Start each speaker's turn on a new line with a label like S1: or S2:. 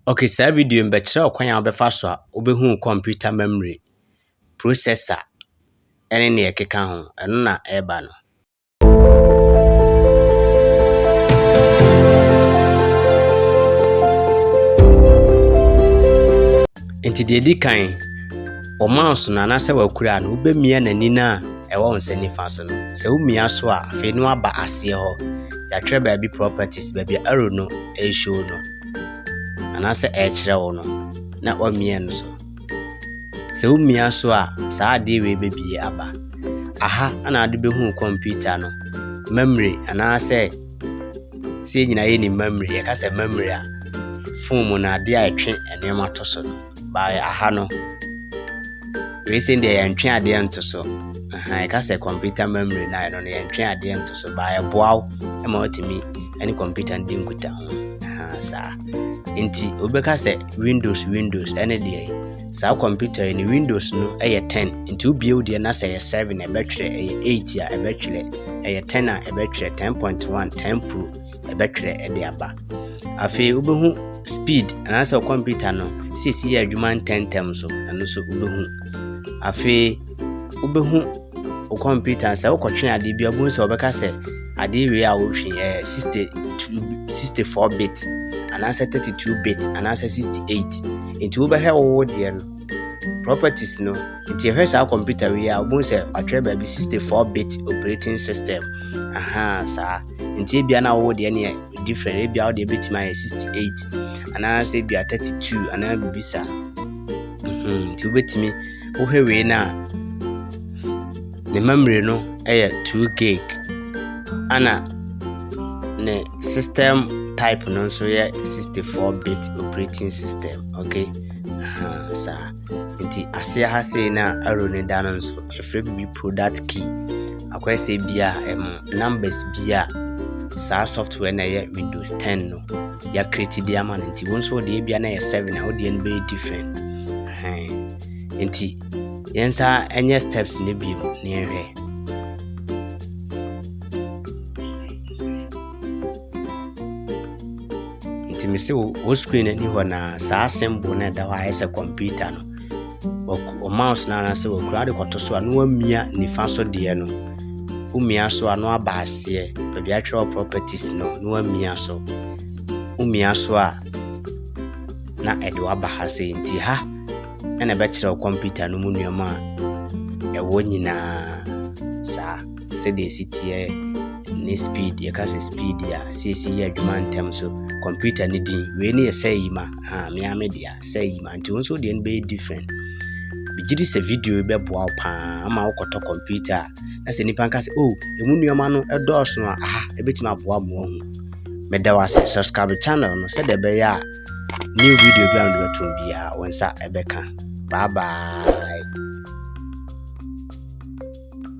S1: Ok, saa video yi mebɛkyerɛ wo kwan a wobɛfa so a wobɛhu wo kɔmputa memory, processor ne nea ɛkeka ho. Ɛno na ɛreba no. Nti deɛ ɛdi kan, wɔ mouse no anaasɛ wakura no, wobɛmia n'ani no a ɛwɔ wo nsa nifa so no. Sɛ womia so a, afei no aba aseɛ hɔ. Yɛatwerɛ baabi properties, baabi a arrow no ɛreshow no. anaasɛ ɛrekyerɛ wo no na woamia no so. Sɛ womia so a, saa adeɛ wei bɛbie aba. Aha na ade bɛhu kɔmputa no memory anaasɛ sɛ yɛn nyinaa yɛnim memory yɛka sɛ memory a fon mu no adeɛ a ɛtwe nneɛma to so no. by aha no wei sɛ deɛ yɛntwe adeɛ nto so ɛka sɛ computer memory na ɛno no yɛntwe adeɛ nto so by ɛboa wo ma watumi ne computer no di nkuta ho saa nti wobɛka sɛ windows windows ɛne deɛ saa computer yi ne windows no ɛyɛ 10 nti wobie wo deɛ na sɛ ɛyɛ 7 ɛbɛtwerɛ ɛyɛ 8 a ɛbɛtwerɛ ɛyɛ 10 a ɛbɛtwerɛ 10.1 10 pro ɛbɛtwerɛ de aba. Afei wobɛhu speed anaasɛ kɔmputa no sisi yɛ adwuma ntɛmntɛm so ɛno nso wobɛhu. Afei wobɛhu wo kɔmputa sɛ wokɔtwe adeɛ bi wobɛhu sɛ wɔbɛka sɛ adeɛ wei a wotwe ɛyɛ 62 64 bit anaasɛ 32 bit anaasɛ 68 nti wobɛhwɛ wowo deɛ no properties no nti ɛhwɛ saa kɔmputa wei a wobɛhu sɛ watwerɛ baabi 64 bit operating system aha saa nti ebia na wo deɛ neɛ different ebia wo deɛ bɛtumi ayɛ 68 anaasɛ ebia 32 anaa biribi saa mhm, nti wobɛtumi wohwɛ wei no a ne mammire no yɛ 2 gig ana ne system type no nso yɛ 64 bit operating system okay saa uh -huh, Ntsi ase ha sei na arrow no da no nso yɛfrɛ biribi product key. Akɔyɛ sɛ ebia um, numbers bi a saa software na ɛyɛ Windows 10 no yɛakreti de ama no nti wo nso wodeɛ ebia na yɛ 7 a wodeɛ no bɛyɛ different. Nti yɛn nsa ɛnyɛ steps no bi mu na yɛnhwɛ. Nti me se wo screen ani hɔ na saa symbol na ɛda hɔ ayɛ sɛ computer no. O mouse na anase wo kura de kɔto so a no amia nifa so deɛ no. Wo mia so a no aba aseɛ. Baabi atwerɛ properties no no amia so. Wo mia so a na ɛde waba ha sɛ nti ha ɛna ɛbɛkyerɛ wo computer no mu nneɛma a ɛwɔ nyinaa saa. sɛdeɛ ɛsi teɛ ne speed yɛka sɛ speed a sɛsi yɛ adwuma ntɛm so computer ne din wei ne yɛ sɛ yi ma ha mea me dea sɛ yi ma nti wo nso deɛ no bɛyɛ different megye di sɛ video yi bɛboa wo paa ama wokɔtɔ computer a na sɛ nnipa nka sɛ o oh, ɛmu nneɛma no ɛdɔɔso a aha ɛbɛtumi aboa mo ahu meda wo ase subscribe channel no sɛdeɛ ɛbɛyɛ a new video bi a mede bɛtom biara wo nsa ɛbɛka bye bye